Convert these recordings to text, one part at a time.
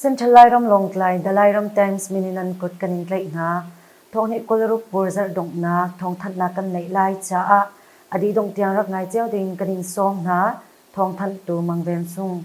Central Lairam Lawngtlai Dalairam Times mininan kut kan in tlaih hna. Thawhni kulruk pur zarh donghnak thawngthanhnak kan neih lai caah adi dongtiang rak ngai ceu ding kan in sawm hna. Thawngthanh tu mangven sung.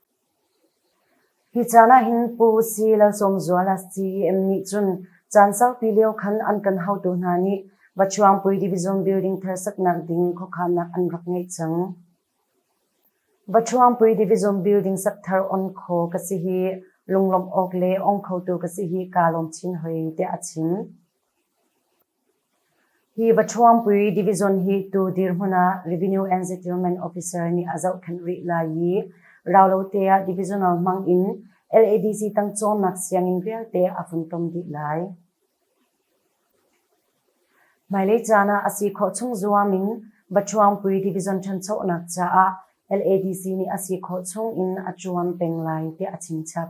Hi caan ah hin Pu Usi Lalsawmzuala CEM nih cun caan saupi lio khan an kan haotu hna nih Vachuangpui Division Building thar saknak ding khuakhannak an rak ngeih cang. Vachuangpui Division Building sak thar on kho ka si hi lunglawmh awk le ong khotu ka si hi kaa lawm chin hoi, tiah a chim. Hi Vaṭhuangpui Division hi tu dirhmun ah Revenue and Settlement Officer nih a zohkhenh rih lai i raulote ah divisional hmang in LADC tang cawnnak sianginn vialte a funtom dih lai. Hmailei caan ah a si khawh chung zuam in Vaṭhuangpui Division ṭhanchonak caah LADC nih a si khawh chung in a ṭuan peng lai tiah a chimchap.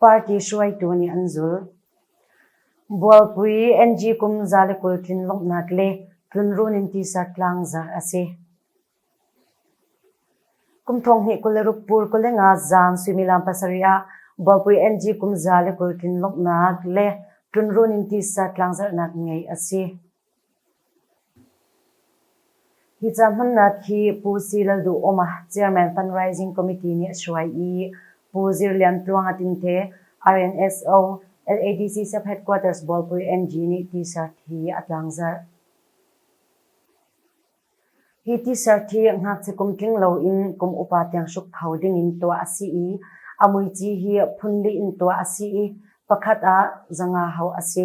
Party hruaitu nih an zul. Bualpui NG kum za le kul tlin lawmhnak le tlunrun in tisa tlang za a si. Kum thong hnih kul le ruk pur kul le nga zang suimilam pasarih ah Bualpui NG kum za le kul tlin lawmhnak le tlunrun in tisa tlangzarhnak ngei a si. Hi ca hmannak hi Pu Si Lalduhoma Chairman Fundraising Committee nih a hruai i Pu Zir Lian Tluang a tinte RNSO LADC Sub-Headquarters Bawlpui NG nih T-shirt hi a tlangzarh. Hi T-shirt hi ngakchia kum tling loin kum upa tiang hruk pho dingin tuah a si i a muici hi phun li in tuah a si i pakhat ah zanga ho a si.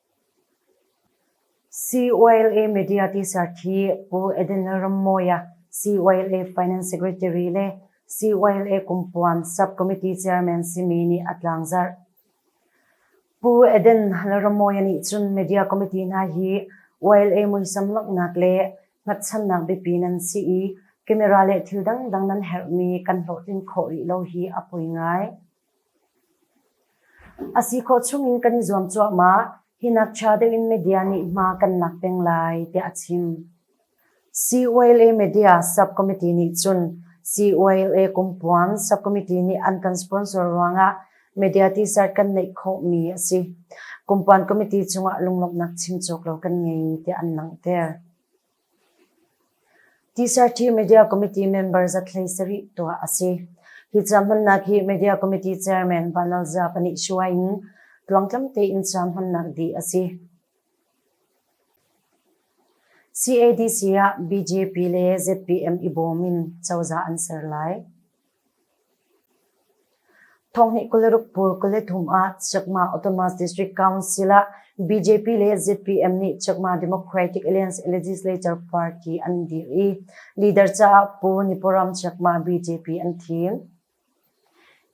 COLA Media T-shirt hi Pu Eden Lalrammawia, COLA Finance Secretary le COLA Kumpuam Sub-Committee Chairman simi nih a tlangzarh. Pu Eden Lalrammawia nih cun Media Committee hna hi OLA muisam lawmhnak le hngatchannak biapi nan si i camera le thil dangdang nan herhmi kan hlawhtlin khawh rih lo hi a poi ngai. A si khawh chungin kan i zuam cuahmah. Hi nak ṭha deuhin media nih hma kan lak peng lai tiah a chim. COLA Media Subcommittee nih cun COLA Kumpuang Subcommittee nih an kan sponsor ruangah media t-shirt kan neih khawhmi a si. Kumpuang Committee cungah lunglawmhnak chim cawk lo kan ngei tiah an langhter. Tisarthi Media Committee member zatlei sarih tuah a si. Hi ca hmannak hi Media Committee Chairman Vanlalza pahnih hruai in tluangtlam tein ca hmannak dih a si. CADC ah BJP le ZPM i bawm in cozah an ser lai. Thawngnih kul le ruk pur kul le thum ah Chakma Autonomous District Council ah BJP le ZPM nih Chakma Democratic Alliance Legislature Party an dir i leader caah Pu Nipuram Chakma BJP an thil.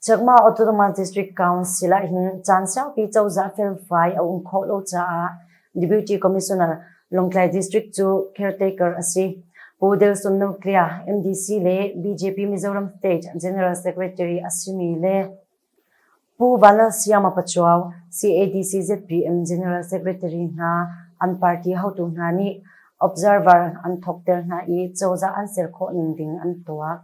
Chakma Autonomous District Council ah hin caan saupi cozah felfai a um khawh lo caah Deputy Commissioner Lawngtlai District cu caretaker a si. Pu Delson Noklia, MDC le BJP Mizoram State General Secretary a simi le Pu Valalsiama Pachuau, CADC ZPM General Secretary hna an party hotu hna nih observer an thawkter hna i cozah an ser khawh ning ding an tuah.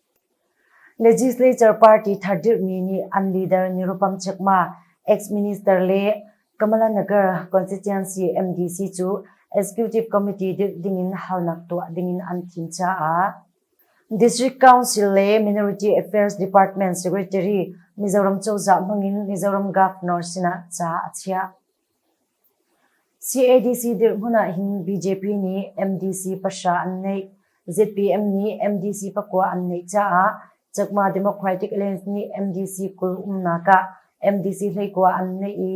Legislature party thar dirhmi nih an leader nirupam chekma ex-minister le Kamala Nagar constituency MDC cu executive committee dirh dingin halnak tuah dingin an thim caah District Council le Minority Affairs Department Secretary Mizoram cozah hmangin Mizoram Governor sinah ca a chiah. CADC dirhmun ahhin BJP nih MDC pahra an neih. ZPM nih MDC pakua an neih caah Chakma Democratic Alliance nih MDC kul umnak ah MDC hleikua an neih i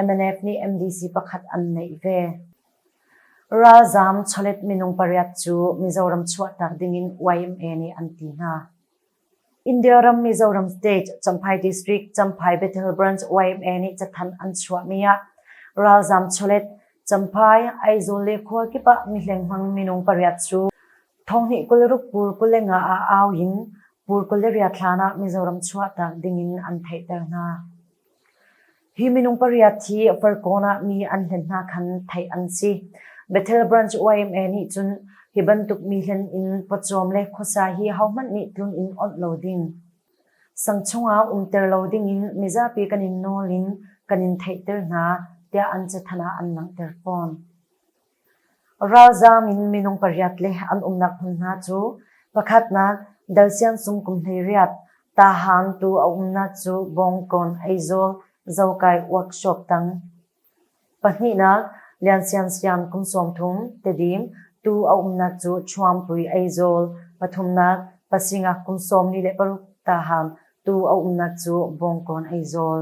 MNF nih MDC pakhat an neih ve. Ralzaam chawlet minung pariat cu Mizoram chuahtak dingin YMA nih an ti hna. India ram Mizoram State Champhai District Champhai Bethel Branch YMA nih cathanh an chuahmi ah ralzaam chawlet Champhai Aizawl le khualkip ah mihleng hmang minung pariat cu thonghnih kul ruk pur kul le nga ah au in pur kul le riat hlan ah Mizoram chuahtak ding in an theihter hna. Hi minung pariat hi Farkawn ah mi an hlen hna khan theih an si. Bethel Branch YMA nih cun hi bantuk mi hlen in pawcawm le khuasa hi hohmanh nih tlun in awnh lo ding. Sang chungah umter lo dingin mizapi kan in nawl in kan in theihter hna, tiah an cathanh ah an langhter fawn. Ralzaam in minung pariat le an umnak hmun hna cu pakhatnak Dalsiang sung kum hleiriat Tahan tu a umnak cu Bawngkawn, Aizawl, Zokai workshop tang. Pahnihnak Liansiansiam kum sawmthum Tedim tu a umnak cu Chuampui, Aizawl. Pathumnak Pasingak kum sawmli le paruk Tahan tu a umnak cu Bawngkawn, Aizawl.